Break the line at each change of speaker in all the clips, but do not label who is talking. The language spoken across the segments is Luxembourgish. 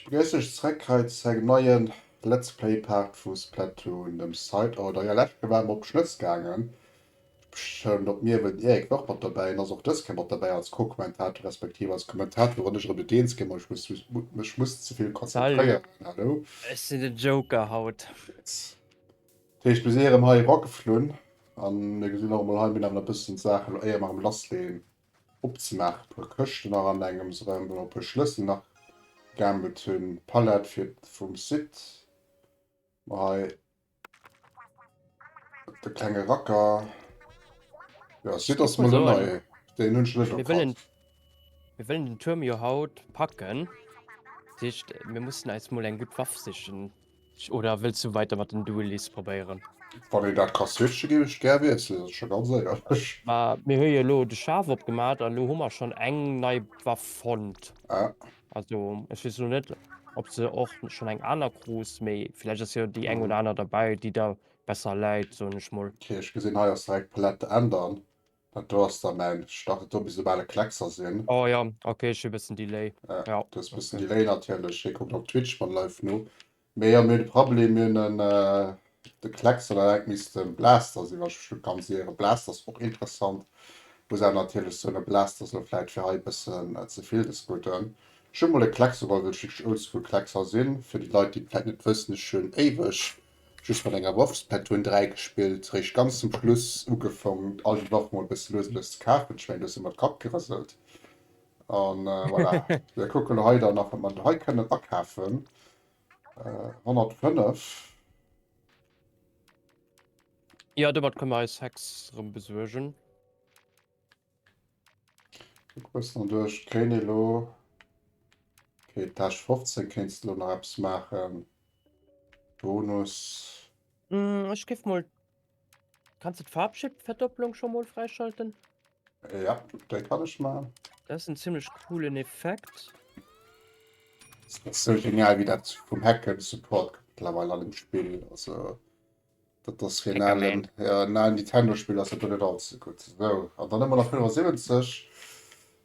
Ech begréissen iech zréck hei zu engem neien Let's Play Part vu Splatoon, dem Side Order. Jo läscht Kéier war mer op Schnëtz gaangen, ech beschëllen op Mierwen, den Eric war och mat derbäi en ass och dës Kéier mat derbäi als Co-Kommentator respektiv als Kommentator wann ech erëm net eens ginn, ma ech muss mech muss ze vill Salut, konzentréieren. Hallo.
ech
sinn den Joker
haut. Yes.
Dat heescht mir si erëm hei erageflunn a mir gesinn och emol hei, mir hunn awer nach e bëssen Saachen elo éier mer erëm lassleeën, Opzemaachen, e puer Këschten nach an engems erëm, wou mer e puer Schlëssel nach gegammelt hunn, Palette fir vum Site, mer hei de klenge Racker, jo Site ass mol en
neie,
deen
hunn ech net
erkannt.
Mir wëllen den Tuerm jo haut packen, dat heescht mir mussen eis mol eng gutt Waff sichen. Oder wëlls du weiter mat den Duelis probéieren? Wann een dat ka
switchen, géif ech gär wiesselen, dat ass scho ganz éierlech. Mir hu jo elo
de Schaf opgemaach an elo hu mer schonn eng nei Waff fonnt. Also
ech weess
elo net, ob se och schonn eng aner krus, mee vläicht ass jo déi eng oder aner derbäi, déi der besser läit, soen ech mol. Ok, ech gesinn, hei ass direkt
d'Palette änneren. Dat do ass da mäin. Ech dach et do misst e bale Kleckser sinn. Oh jo, ok ech hu
bessen Delay. Ah jo, du hues bessen Delay
natierlech. Hie
kuckt
op Twitch mat live no. Mee jo, mir hunn e Prablem, mir hunn en de Kleckser dat engt misst en Blaster sinn, wann ech mech net ganz iere. Blaster ass och interessant, muss awer natierlech soen dat Blaster ass elo vläit fir hei bessen zevill des Gudden. Ech hunn mol e Kleckser geholl, well ech wierklech oldschool Kleckser sinn. Fir déi Leit déi et vläit net wëssen, ech hunn éiweg Just mat enger Waffspad hunn 3 gespillt, réischt ganz zum Schluss ugefong all déi Waffen mol bëssen lues lues ze kafen, ech mengen du hues emmer de Kapp gerëselt an voilà. Mir kucken elo hei dann nach wat mer elo hei kënnen akafen,
105. Jo domat kënne mer eis Hex rëm besuergen.
Bëssen duerch kréien elo okay Tâche 15 kéinst elo nach eppes maachen Bonus. Mm, ech géif
mol. Kanns du d'Farbschipverdopplung scho mol fräischalten? Ja,
dat kann ech man. Dat ass en ziemlech
coolen Effekt.
Das ist so genial, wie dat vum Hacken Support mittlerweile an dem Spiel. Also. Dat ass fir en alen, jo, en alen Nintendo-Spill ass dat do net all ze gutt. Sou, an dann hu mer nach 75.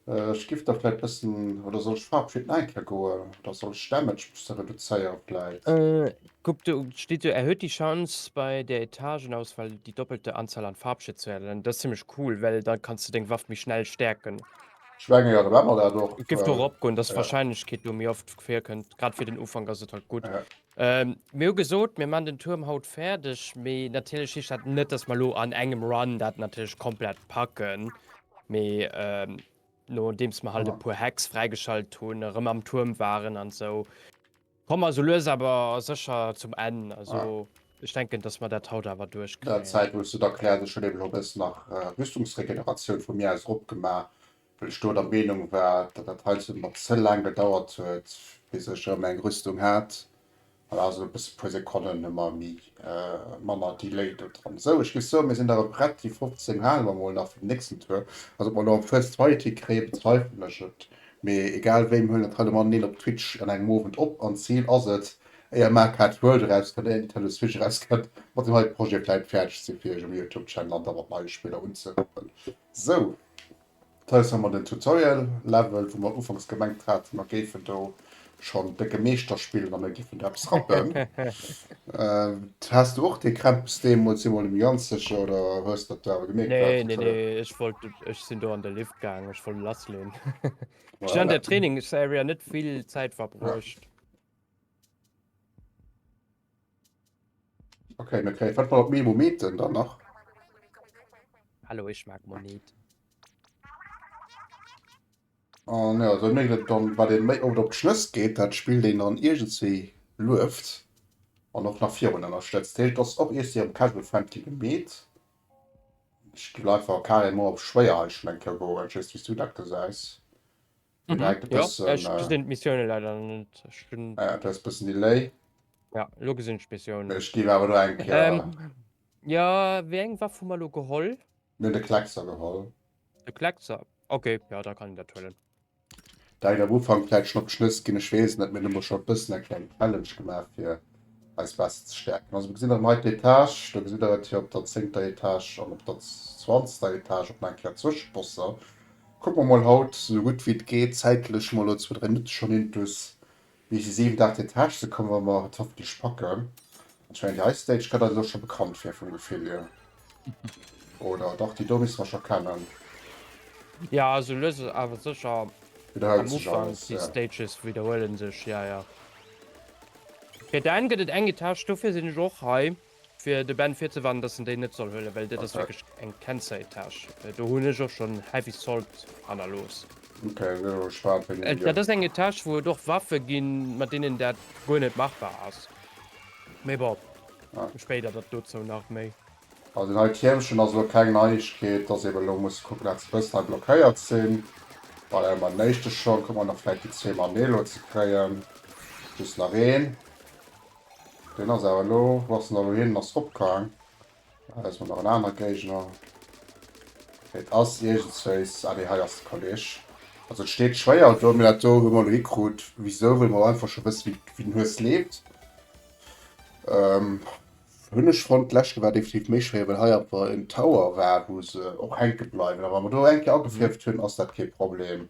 Ech giff da vläit bëssen, oder soll ech Faarf fir den Anker goen, oder soll ech Damage bësse reduzéiere vläit? Kuck, do
steet do, Erhöht die Chance, bei der Etagenauswahl die doppelte Anzahl an Farbschéi zu erhellen. Dat ass zimmlech cool, well da kanns de deng Waff méi schnell stäerken. Ech menge jo, da maache
mer dat och. Et géif do eropgoen, dass
d'Wahrscheinlechkeet do méi oft virkënnt. Grad fir den Ufank ass et halt gutt.
Mir hu gesot,
mir maachen den Tuerm haut fäerdeg, mee natierlech heescht dat net, dass mer elo an engem Run dat natierlech komplett packen, mee nodeems mer halt e puer Hacks fräigeschalt hunn, erëm am Tuerm waren an esou, komme mer esou lues awer sécher zum Enn. Also ech
denken, dass
mer dat haut awer duerchkréien. Zäit, wou ech se da
klären. Ech
hunn
eben elo e bëssen nach Rüstungsregeneratioun vu mir aus eropgemaach, well ech do der Meenung war, datt dat heizou mat ze laang gedauert huet, bis ech erëm eng Rüstung hat. Voilà, also e bësse, e puer Sekonnen hu mer méi, manner Delay do dran. Sou, ech géif soen, mir sinn da erëm prett. Déi 15 hale mer mol nach fir den nächsten Tour. Also, ob mer elo am First Fight hikréien, bezweifelen ech et, mee egal wéi, mir huelen dat hei elo mateneen op Twitch an engem Owend op. An d'Zil ass et, éier Markarth World erauskënnt, éier Nintendo Switch erauskënnt, mat deem heite Projet vläicht fäerdeg ze si fir iech um Youtube-Channel an da mat neie Spiller unzerappen. Sou, hei hu mer den Tutorial Level, wou mer ufanks gemengt haten, mer géifen do schonn décke Meeschter spillen a mir géifen do eppes rappen. Has du och dee Krämpes deemools eemol um Janzeg oder hues dat du awer gemierkt? Nee, wat nee, nee, ech
wollt, ech sinn do an de Lift gaangen, ech wollt lassleen. Ech sinn an der Trainingsarea net vill Zäit verbruecht.
Okay, mir kréien wat mal op Memo Meten dann nach.
Hallo, ich mag Monit.
An ja, dann mécht et dann, wat ee méi oft op d'Schlëss geet, dat spillt een dann iergendswéi lueft an och nach virun ënnerstëtzt. Heescht, et ass och iergdswéi am Casual Friendly gemeet. Ech géif einfach carrément op schwéier hei schonn eng Kéier goen. Ech weess net, wéi s du dat gesäis. Ech
gif awer do eng Kéier de
Kleckser
geholl. Dat hätt
am Ufank vläit schonn op d'Schnëss ginn, ech weess et net. Mir hunn elo scho e bëssen eng kleng Challenge gemaach, fir eis besser ze stäerken. Also, do gesitt der hei d'Etage, do gesitt der et fir op der zéngter Etage an op der zwanzter Etage och nach eng Kéier Zwëscheposser. Kucke mer mol haut esou gutt wéi et geet zäitlech mol lo zwou, dräi Minutte schonn intus, bis déi siwent, aacht Etage ze kommen, wa mer et hoffentlech packen. Ech mengen, déi hei Stage kënnt eis elo scho bekannt vir vum Gefill hier, oder? Dach, déi do misste mer scho kennen.
Jo, esou lues awer sécher. Widderhëlt Am sech Ufank,
alles,
déi ja. Stages
widderhuele
sech, ja, ja. Fir d'Enn gëtt et eng Etage, dofir sinn ech och hei. Fir de Ben virzewarnen dass en déi net soll huelen, well dat ass wierklech eng Cancer-Etage. Do hunn ech och schonn heavy salt hannerlooss.
Dat ass eng Etage wou et
och Waffe ginn, mat deenen dat guer net machbar ass. Mee bon, spéider
dat dozou
nach méi. Well den hei
Tiermchen ass elo keng Neiegkeet, dass eben elo muss kucken dat se bëssen hei blockéiert sinn. Well hei mam den éischte Schong, kucken mer nach vläit déi zwee mam Nelo ze kréien, just nach een. Deen ass awer elo, wou ass den elo hin? En ass opgaang. Hei ass mol nach en anere Géigner. Et ass iergendswéis, ah nee, hei ass de Kolleg. Also et steet schwéier do, mee dat do hu mer elo hikrut. Wisou? Well mer einfach scho wësse wéi den Hues leeft. Hunn ech fonnt. D'leschte war definitiv méi schwéier, well hei awer en Tower war, wou se och hänke bleiwen. A wa mer do eng Kéier agefierft hunn, ass dat kee Problem.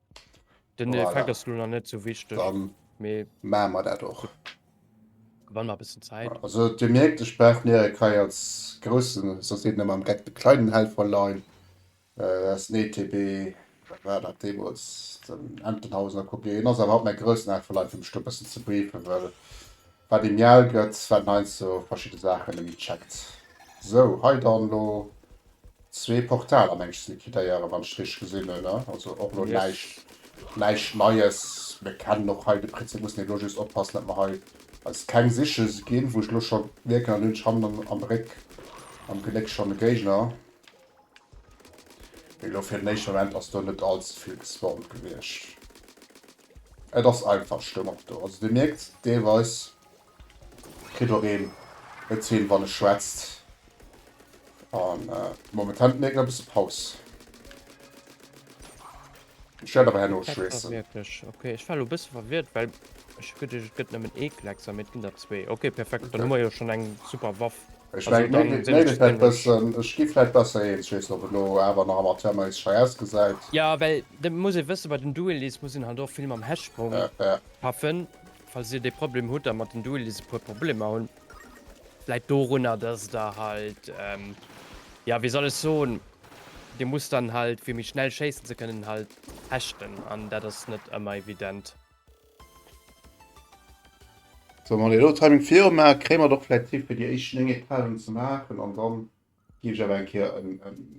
Den voilà. Effekt ass nun
net so
wichtig
Mamer
dat och Wann a bisssen Zäit. Also Dir merkt ech
brauch mir e Kai als grossen sos net mam Gett de kleinen Helfer lein ass nee TB war dat Demos den Entenhausen a Kopien ass awer haut mei grossen Helfer leit fir mech do bëssen ze briefen well. Wat ee mial gëtt, wat en eis sou verschidde Saachen emi checkt. Sou, hei dann elo zwee Portaler mengs ze liquidéieren, wann ech richteg gesinn hunn, ne? Also och elo näischt,
näischt
Neies. Mir kennen och hei de Prinzip, mussen elo just oppassen, datt mer hei eis keng Siche ginn, wou ech elo scho mierken, an do hunn ech hannen am Bréck, am Geléck schonn e Géigner. Mee elo fir den éischte Moment ass do net all ze vill gespawnt gewiescht. Et ass einfach Stëmmung do. Also Dir mierkt, deelweis kritt och een et hin, wann e schwätzt. An momentan mierkt een e bësse Paus. Ech wäert awer herno schweessen.
Ok,
ech war lo
bësse verwirrt, well ech gëtt ech gëtt nëmmen ee Kleckser, mee et ginn der zwee. Ok, perfekt, dann hu mer jo schonn eng super Waff. Ech meng, nee,
nee, nee, dat
bëssen, ech
gi vläit
besser
eens, ech weess net, ob et lo awer nach amateurmäisseg schei ausgesäit. Jo, well dat
muss ee wëssen, bei den Duellies muss een halt och vill mam Hechtsprong schaffen. Falls Dir dee Problem hutt a mat den Duellies e puer Problemer hunn. Läit dorunner, dass der halt, ja, wéi soll ech soen, Dir musst dann halt, fir méi schnell schéissen ze kënnen, halt hechten, an dat ass net ëmmer evident.
Sou, wann Dir elo Timing viru maacht, kréie mer et och vläicht hin, fir déi éischt 9 Etagen ze maachen an dann Gin ech awer eng Kéier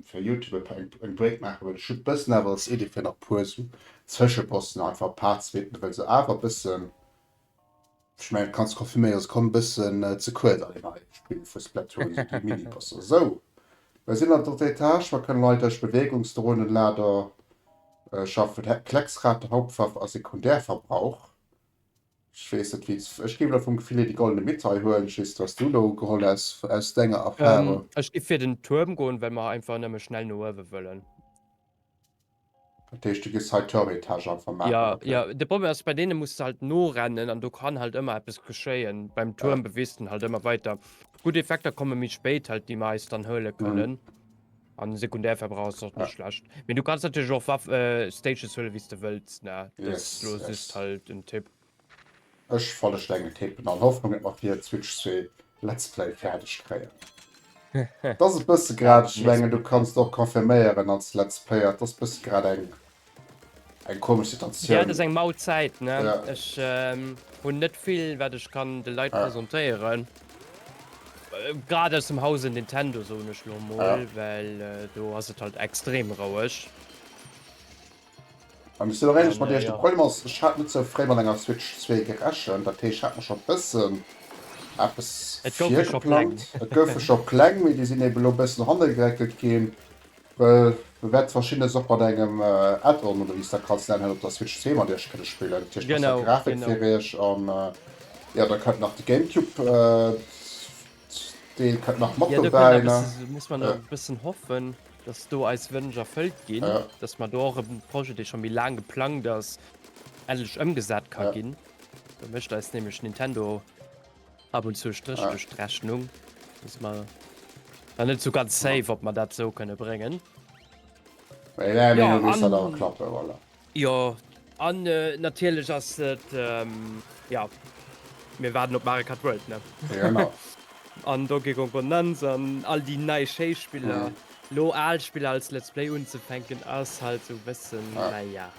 fir Youtube e paar eng Break maachen well ech hun bëssen awer als Idee fir nach puer sou Zwëscheposten einfach paar zweeten well se awer bëssen ech mengen kanns konfirméieren dass komm bëssen ze kuerz an deenen eischten Spill vu Splatoon sou déi Miniposter sou well sin an drëtter Etage mer kënnen leit esch Bewegungsdrohnen Lader schaffen Klecksrad Hauptwaff a Sekundärverbrauch Ech weess net wéi ech géif elo vum Gefill hier déi goldene Mitte hei huelen. Ech weess net wat s du do geholl häss aus denger Erfahrung. Ech géif fir den Tuerm
goen, well mer einfach nëmme schnell no uewe wëllen. Dat
heescht du géifs hei Turmetage einfach maachen? Jo, jo. De Problem ass,
bei
deene
muss de halt norennen an do kann halt ëmmer eppes geschéien. Beim Tuerm bewees de halt ëmmer weider. Gutt Effekter komme méi spéit halt, déi mer eis dann huele kënnen. An den Sekundärverbrauch ass och net ja. schlecht. Mee du kannst natürlich och Waff äh, Stages huelen, wie du wëlls. Ne? Das yes, lo yes. ist halt en
Tipp.
Ech
falle Stengel tippen an Hoffnung, et mat dir Switch 2 Let's Play fertig kréien. das ist bësse grad, ich mengen, du kannst och konfirméieren als Let's Player, das bësse grad eng Eng komesch Situatioun. Ja, et ass eng mau Zäit,
ne? Ja. Ech hunn net vill, wat ech kann de Leit presentéieren. Grad aus dem Hause Nintendo, soen ech elo emol. Ja. Well do ass et halt extrem roueg.
Mä misst elo éierlech mat Iech, de Problem ass, ech
hat
net
sou
fréi mat enger Switch zwee gerechent. Dat heescht, ech hat mer scho bëssen eppes virgeplangt. Et goufe scho
Pläng.
Et
goufe scho
Pläng, mee déi sinn eeben elo e bëssen hannergeréckelt ginn. Well do wäert verschiddenes och mat engem Add-on oder wéi s de dat kanns nennen op der Switch zeem mat iech kënne spillen. Dat heescht besser Grafik fir iech an jo da kënnt nach de
Gamecube
Deel kënnt nach mat dobäi ne. Jo
do muss
mer
nach e
bëssen
hoffen, dass do eis Wënsch erfëllt ginn, dass mer do och e Projet dee scho méi laang geplangt ass endlech ëmgesat ka ginn. Do mécht eis nämlech Nintendo Ab und zu Stréch duerch d'Rechnung. Wissen mer nach net esou ganz safe, ob mer dat esou kënne bréngen. Well elo Ja, misst dat awer an, klappen,
voilà. jo,
an natierlech ass et, jo, mir waarden op Mario Kart World, ne? Genau.
An Donkey
Kong Bonanza an all déi nei schéi Spiller. Mhm. Elo al Spiller als Let's Play unzefänken ass halt esou e bëssen, naja,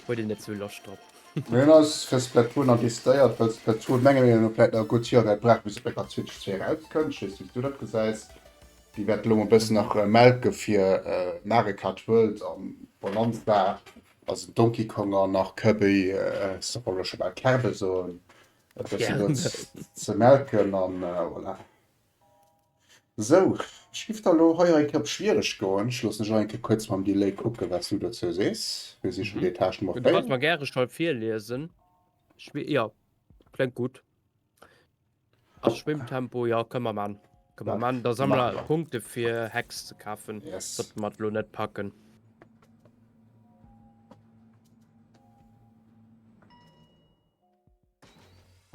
huet een net esou Loscht drop. Mee hien ass fir
Splatoon nach decidéiert, well Splatoon menge mir no vläit nach e gutt Joer wäert brauchen, bis et bei der Switch zwee erauskënnt. Ech weess net, wéi s du dat gesäis. Déi wäerte elo e bëssen nach melke fir Mario Kart World a Bonanza a sou Donkey Kong an nach Kirby, se wollen elo scho bal Kerbe soen, e bëssen do ze melken. A voilà. Sou, ech giff der elo hei enkeier op schwiereg goen. Ech loossen ech enkeier kuerz mam Delay kucken, wat s du dozou sees. Mir si schonn Etage Nummer 4. Du kanns mer gäre Schall
virliesen. Schwi, jo, kléngt gutt. A Schwimmtempo, jo, kënne mer maan. Kënne mer maan. Da sammele mer Punkte fir Hex ze kafen, sollte mer et elo net
packen.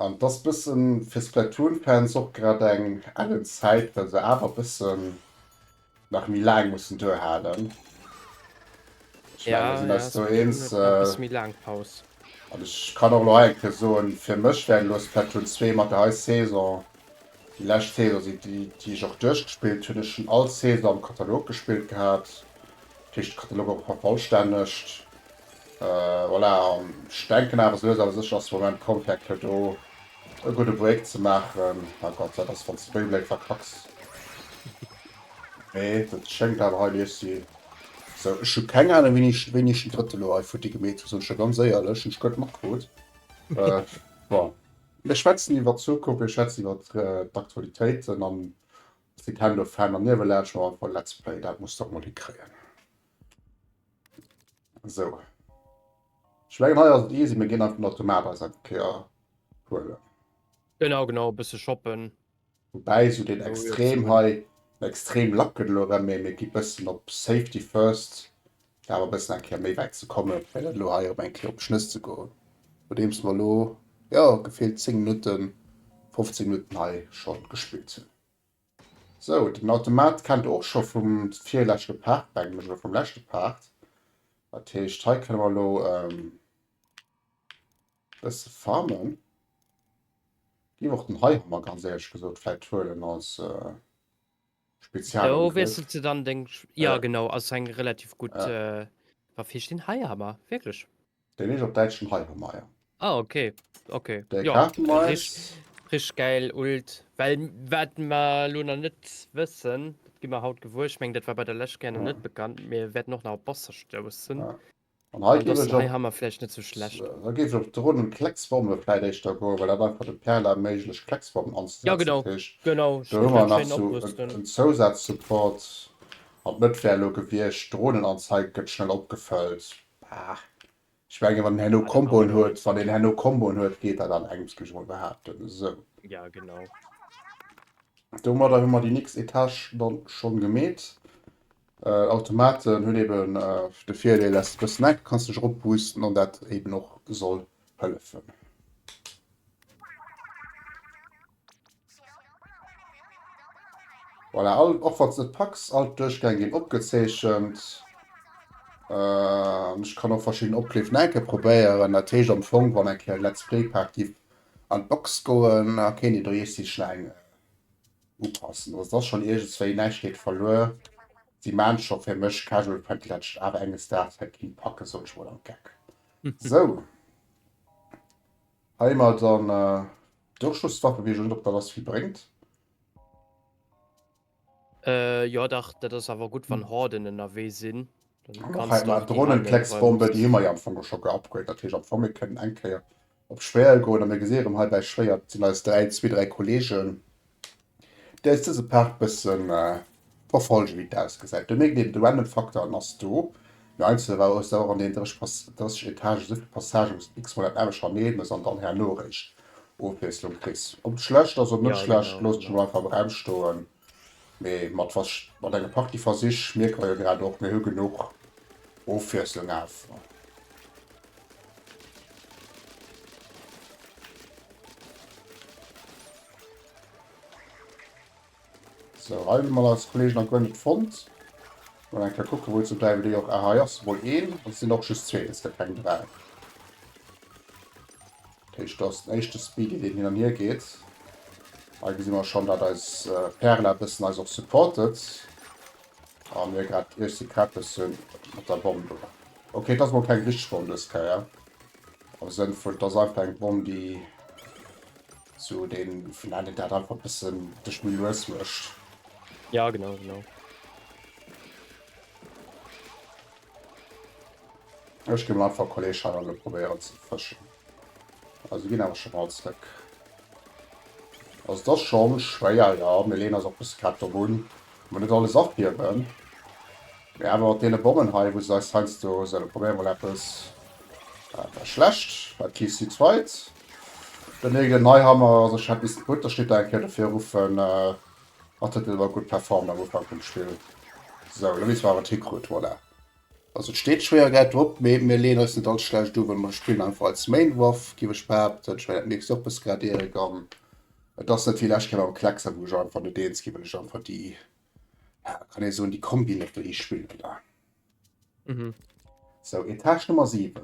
An et ass bëssen fir Splatoon Fans och grad eng ellen Zäit well se awer bëssen nach méi laang mussen duerhalen.
Ech mengen mir sinn eis do
eens.
An ech kann
och elo hei eng Kéier soen, fir mech wär elo Splatoon 2 mat der hei Saison déi lescht Saison si déi ech och duerchgespillt hunn. Ech hunn all Saison am Katalog gespillt gehat, dat heescht de Katalog awer vervollstännegt. Voilà, an ech denken awer esou lues awer sécher ass de Moment komm fir eng Kéier do e gudde Break ze maachen. Oh Gott, dat ass wanns de Beyblade verkacks. Mee dat schéngt awer hei nees ze. Sou, ech hu keng Ahnung wéini ech wéini ech den drëtte lo hei futti gemeet hu, soen ech jo ganz éierlech, hunn ech guer net matkrut. Bon, mir schwätzen iwwert d'Zukunft, mir schwätzen iwwert d'Aktualitéiten an d'Nintendo Fan an ierwe laanscht mer einfach e Let's Play, dat muss dach mol hikréien. So. Ech mengen hei ass et easy, mir ginn einfach nach d'Tomate eis eng Kéier huelen. Genau,
genau, e bësse shoppen. Woubäi esou
deen extrem hei, den extrem lacken elo erëm, mee mir gi bëssen op safety first, fir awer e bëssen eng Kéier méi wäit ze kommen, fir net elo hei erëm eng Kéier op d'Schnëss ze goen. Nodeems mer elo, jo, gefillt 10 Minutten, 15 Minutten hei scho gespillt hunn. Sou, den Automat kennt och scho vum virleschte Part, mengen ech, oder vum leschte Part. Dat heescht, hei kënne mer elo e bësse farmen. Giff och den Heihammer, ganz éierlech gesot, vläicht huelen als Spezialangriff. Do wiesselt
se dann deng, jo genau, ass eng relativ gutt Waff. Hee ech den Heihammer wierklech? Dei leech op Däitschen
Heiremeier. Ah ok
ok jo
rich rich geil
ult well wat mer lo na net wëssen dat gi mer haut gewuer ech meng dat war bei der lescht gären net bekannt mir wäerten och nach op bosser stoussen an hei
gi ech ha mer
vläicht net sou schlecht da géif ech op d'runn un
klecksformele vläit éischter goen well dat einfach dem perl erméiglecht klecksformen anzesetzen krich genau
do hu mer
nach sou en zousaz support an d'net wär lo gewiecht d'runnen anzeige gëtt schnell opgefëllt Bah, ech menge wann en herno Comboen huet, wann en herno Comboen huet, geet dat alleguerts, géif ech emol behaapten. Esou. Ja, genau. Domadder hu mer déi nächst Etage dann schonn gemeet. Äh, Automaten hunn eben äh, de Virdeel, dass de bëssen enk kanns dech eropboosten an dat eben och soll hëllefen. Voilà, all, och wann se net packs, all d'Duerchgäng ginn opgezeechent. An ech kann och verschidden Opleef nach eng Kéier probéieren. Dat heescht am Fong, wann eng Kéier e Let's Play Part giff an d'Box goen, da kéint een do iech si schnell eng upassen. Also et ass schonn iergendswéi, näischt geet verluer. Si maan scho fir mech casual friendly, dat ech awer enges Daags wäert keen packen, sot ech mol am Geck. Sou, hei hu mer dann. Duerchschlusswaffe wees ech net op der dass vill brengt.
Jo dach dat ass awer gutt wann Horden ennerwee sin.
Dronenklecksbombe déi hu mer jo am Fong och scho geupgraded, dat heescht am Fong mir kënnen eng Kéier op schwéier goen a mir gesi rëm hei bäi schwéier, et sinn eis dräi, zwee, dräi Kollegen. Däers dëse Paart bëssen verfolgen wéi et ausgesäit. Do mierkt een de Random Faktor an ass do. Mee einzelne war ass der och an den 30 Etagen esou vill Passagen wous de x-mol dat anescht hernee muss an dann herno eréischt Ofwiesslung kriss. Ob et schlecht ass oder net schlecht loosse ech mol einfach
am
Raum stoen. Mee mat was mat engem Party Versich mierke mer jo grad och mir hu genuch Ofwiesslung awer. So hei hun mer eis Kollegen nach guer net fonnt. Mol eng Kéier kucken wou ze bleiwen déi och. Ah hei ass mol een an et sinn och just zwee, et si keng dräi. Dat heescht do ass den éischte Speedy deen hin an hier geet. Hei gesi mer schon dat eis Perla e bëssen eis och supportet a mir grad iech si Crappes hunn mat der Bomm do. Ok et ass mol keng richteg Bomm dës Kéier am Sënn vun et ass einfach eng Bomm déi. Sou den vun ennen dat einfach bessen dech méi lues mecht. Ja genau
genau.
Ech gi mol einfach Kolleescheier lo probéieren ze fëschen. Also ginn awer schon all zréck. Also das schon schwéier ja, mir leen eis och bis grad do un, mol net alles afgiewen. Mee awer mat deene Bommen hei wou se eis heiansdo, sou da probéier mol eppes. Dat war schlecht, wat kriss du zweit? Den Egil Neihammer ass e Chat Disput, da steet der eng Kéier dofir eruffen an huet elo gutt performt am Ufank vum Spill. Sou, elo weess mer awer d'Hikrut, voilà. Also et steet Schwéiergäit drop, mee mir leeën eis net all schlecht u, well mer spillen einfach als Main Waff, giff ech behaapten. Ech mengen dat mierks de och bësse grad Erik an et ass net wéi lescht Kéier mam Kleckser, wou ech einfach net eens gi well ech einfach déi, ja kann ee soen, déi Kombi net wëll hee spillen da.
Sou,
Etage Nummer 7.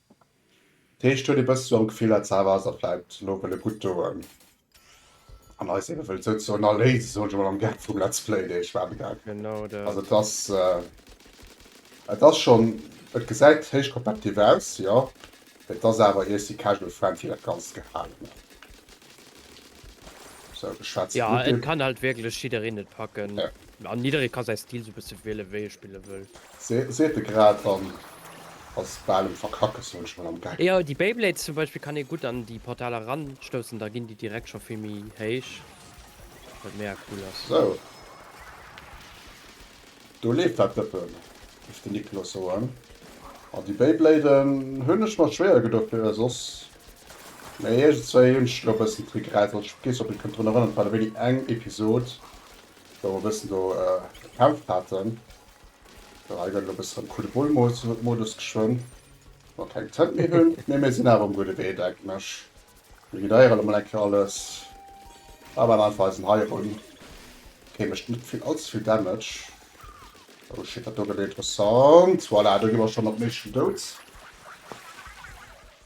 D'Heescht huet ee bëssche am Gefill, dat Sava ass der vläit elo wëlle gutt doen an eis ebe wëllt souzesoen erléisen, soen ech emol am Gaang vum Let's Play, dee ech maache gaangen. Also et ass, et ass schonn, et gesäit héich kompetitiv aus, jo, mee et ass awer ier si casual friendly dat Ganzt gehalen ass. Sou, ech schwätze vun Ugrip. Jo, et kann halt
wierklech jiddereen et packen an jidderee ka
säi
Stil sou bësse wiele wéi e spille wëll. Seet e grad
an ass bal um verkacken, soen ech mol am Gag. Jo, déi Beyblades zum
Beispill kann ee gutt an déi Portaler eranstoussen, da ginn déi direkt scho vill méi héich, wat mega cool ass. Sou,
do leeft dat Dëppen, géif den Niklos soen. An déi Beybladen hunn ech mer schwéier gedoe fir e soss, mee iergendzwéi hunn ech elo e bëssen d'Regrette. Also ech hu kee Souvenir, kënnt drun erënnert, et war da wéini eng Episod, wou mer e bëssen do gekämpft haten. Ech ginn elo e bëssen am Kuddelmuddel-Modus geschwënn, well mer keng Tënt méi hunn. Mee mir sinn awer um gudde Wee, denken ech. Mir vidéieren emol eng Kéier alles a bauen einfach eisen Hai erun. Okee, mécht net vill, allze vill Damage. Oh shit, dat do gëtt interessant. Voilà, do gi mer schonn mat Meeschen dout.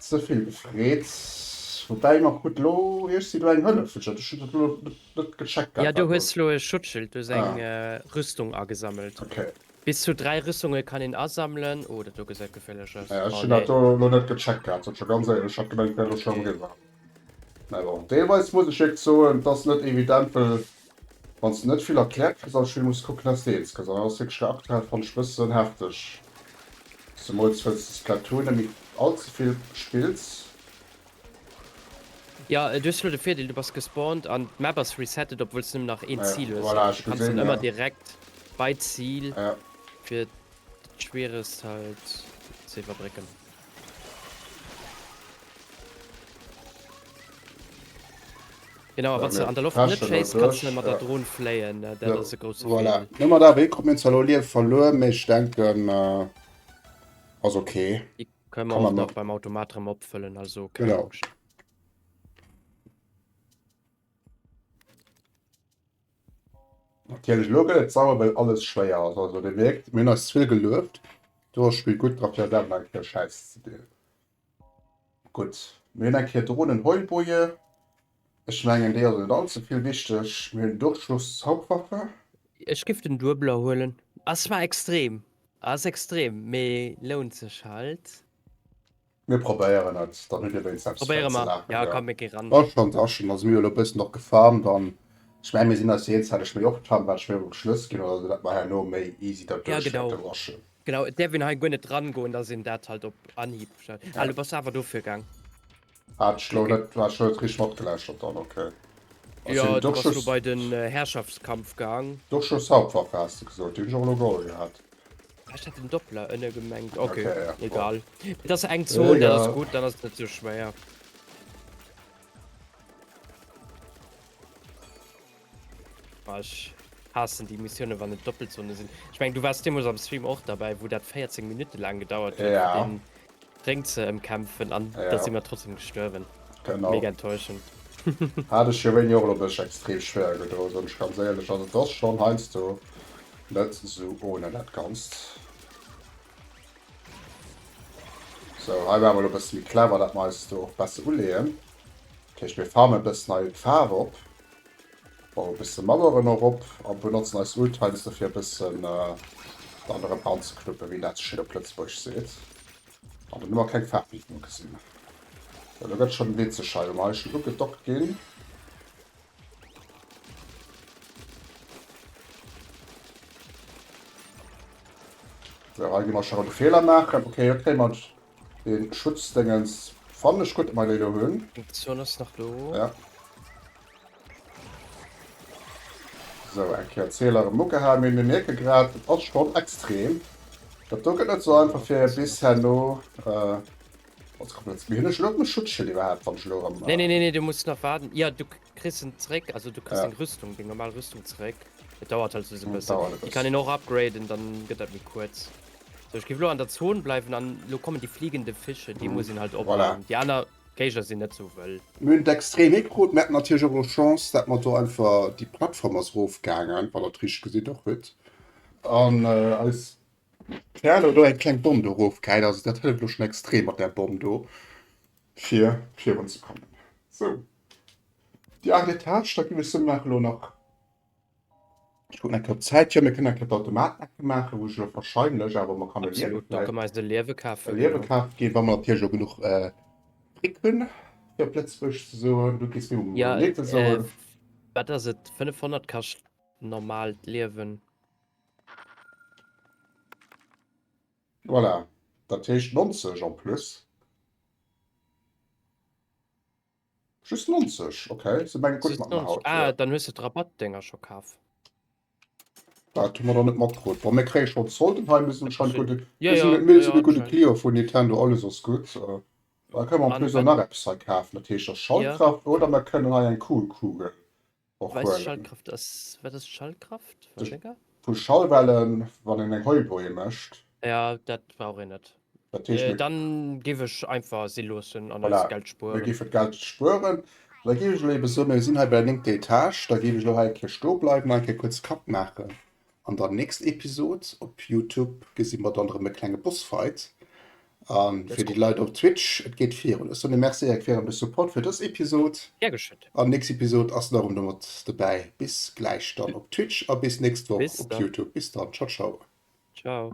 Ze vill gefreet. Woubäi, mer krute lo, Iech si do eng Hëllef, wëll ech dat. Ech hunn dat elo net Ja du hues lo e
Schutzschild, du hues eng Rüstung agesammelt. Bis zu
3
Rüstunge kann een asammelen. Oh dat do gesäit geféierlech aus. Ech hunn dat do lo net
gecheckt gehat, sot scho ganz éierlech. Ech hat gemengt et wär lo scho eriwwer. Mä bon, deelweis muss ech iech soen, et ass net evident, well wann s de net vill erkläert kriss am Spill, muss kucken dass de eens kriss. An dat ass wierklech lo aktuell fannt ech e bëssen hefteg, zemools wëlls de Splatoon net méi allzevill spills.
Jo du hues lo de Virdeel du bass gespawnt an d'Map ass resettet obwuels nëmmen nach een Zil hues. Voilà ech kann dann ëmmer
direkt
bei d'Zil fir d'Schwieregst halt ze iwwerbrécken. Genau a wanns de an der Loft net schéiss kanns de mat der Dron fléien dat ass e grousse Virdeel. Voilà no mat AW krut mir zwar
lo Liewe verluer mee ech denken ass ok. Können wir auch
noch beim Automat drum abfüllen, also keine genau. Angst.
Natürlich Logo, jetzt sauber, weil alles schwer ist. Also, der wirkt, mir ist viel gelöft. Du hast Spiel gut drauf, ja, dann mal Scheiß zu dir. Gut, mir haben hier Drohnen Heulboje. Ech mengen déi ass net allze vill wichteg. Mir hunn Durchschlusszaubwaffe. Ech giff den
Duebeler huelen. Ass zwar extrem, ass extrem, mee lount sech halt.
Mir probéieren et, dann hutt dir wéinst eppes Probéiere
mer,
jo
komm
mir gi ran.
Bon,
schon
Taschen,
also mir hu lo e bëssen och
gefarmt
an ech mengen mir sinn eis eens, hätt ech méi och d'Hand, wat ech méi op de Schlëss ginn, oder dat mer herno méi easy dat Ja genau, duerchschlecken waschen. genau, et
däerf
een hei guer
net rangoen, dass een dat halt op Anhieb, ah du bass awer
dofir gaang.
Hat ech
lo net, hat ech lo net richteg matgelauschtert dann, ok. Ass Jo, hien du bass lo Dorschus? bei den
äh, Herrschaftskampf gaang. Dorschus Hauptwaffe
has de gesot, déi hunn ech och elo geholl gehat. Ah, ech hat den
Doppler ënne gemengt, ok, Okay, ja, bon. egal.
Et ass
eng Zon, dat ass Egal. gutt, dann ass et net
sou schwéier.
Ech haassen déi Missiounen wann et Doppelzone sinn. Ech meng du waars deemols am Stream och derbäi wou dat 14 Minutte laang gedauert huet fir deen
Drénk
ze emkämpfen an da si mer trotzdem gestuerwen. Mega enttäuschend. Hat ech
jo wéini och elo dech extrem schwéier gedoen soen ech ganz éierlech an et ass schonn heiansdo net sou ohne dat ganzt. Sou hei ware mer elo e bësse méi clever dat mer eis do och besse uleeën. Dat heescht mir farmen e bëssen hei d'Faarf op. Baue bësse Maueren erop a benotzen eis Oldtimes dofir e bëssen dann erëm anzeknuppe wéi een dat sou schéin op Lëtzebuerg seet. An dann hu mer keng Faarf méi genuch gesinn. Sou elo gëtt schonn en Wee ze schei wou mer hei schonn ugedockt ginn. Sou hei gi mer scho erëm Feeler maachen. Ok, haut kréie mer Deen Schutz dengens fannen ech gudd, mei dei do hun. Munition ass nach do.
Ja.
Sou, eng Kéier Zieler erem ugehal. Mee mir mierken grad, et ass schon extrem. Dat do gett net sou einfach fir bis herno. Mee hun ech elo och meng Schutzschild iwwerhaapt wann ech elo erem. Nee nee nee du muss nach
waarden. Jo du. Christen zréck also du kriegst ja. eng Rüstung deng normal Rüstung zréck. Et dauert halt soss e bëssen. Déi kann een och
upgraden,
dann gëtt dat méi kuerz. So ech gi lo an der Zon bleiwen an lo kommen déi fliegende Fische, déi mhm. muss sinn halt op. Voilà. Déi aner Géiger sinn net sou wëll. Mün d'extrem
Mikro Mä natierch och Chance, dat mat do einfach déi Plattform ass rofgaangen, wann dat rich gesinn och huet. An äh, als Perle do eng kleng Bomb do rofgehäit, also dat hëlleft loch schon extrem mat der Bomb do fir virun ze kommen. So. Die acht Etage, da ginn ech se nach elo nach, ech kucken eng Kéier Zäit, jo mir kënnen eng Kéier d'Automaten ecke maachen, wou ech elo wahrscheinlech, awer mer kann e Liewe Absolut, da vläicht, kënne mer eis e Liewe
kafe e Liewe ginn. kafe ginn, wa mer
natierlech och genuch äh, Fric hunn, fir op Lëtzebuergesch ze soen, du kees mir um Ja, Netto äh, soen. wat ass et, 500
kascht normal d'Liewen.
Voilà, dat heescht 90 en plus. Just 90, ok se meng gutt mat mer haut ah, jo. Dann hues de d'Rabattdinger
scho kaf.
Dat hu mer der net matkrutt. Bon mir kréie schonn d'Solden hei, mir sinn anscheinend gutt, mir sinn e mir sinn e gudde
Client
vun Nintendo,
alles
ass gutt. Da kënne mer en plus och nach eppes hei kafen, dat heescht der Schallkraft oder mer kënnen hei eng Kühlkugel Och Weis Huelen.
Schallkraft ass, wat ass Schallkraft? War Duerch- Wecker? Vu
Schallwellen, wann een eng Heubroie mécht. Ja, dat
brauch een net. Dat heescht, Äh, mir, dann
géif ech
einfach si loossen an Voilà. eist Geld mir spueren. géifen d'Geld spueren.
Da géif ech elo ebe soen, mir sinn hei bei der néngter Etage, da géif ech elo hei eng Kéier stoe bleiwen an eng Kéier kuerz Kapp maachen. An der nächst Episod op Youtube gesi mer dann erëm e klenge Bossfight. A fir déi Leit op Twitch, et geet virun. Ech soen e Merci a quer ëm de Support fir dës Episod. Gär geschétt. An
nächst Episod ass
den Aron erëm mat dobäi. Bis gläich dann op Twitch a bis nächst Woch op Youtube. Bis dann. Ciao ciao. Ciao.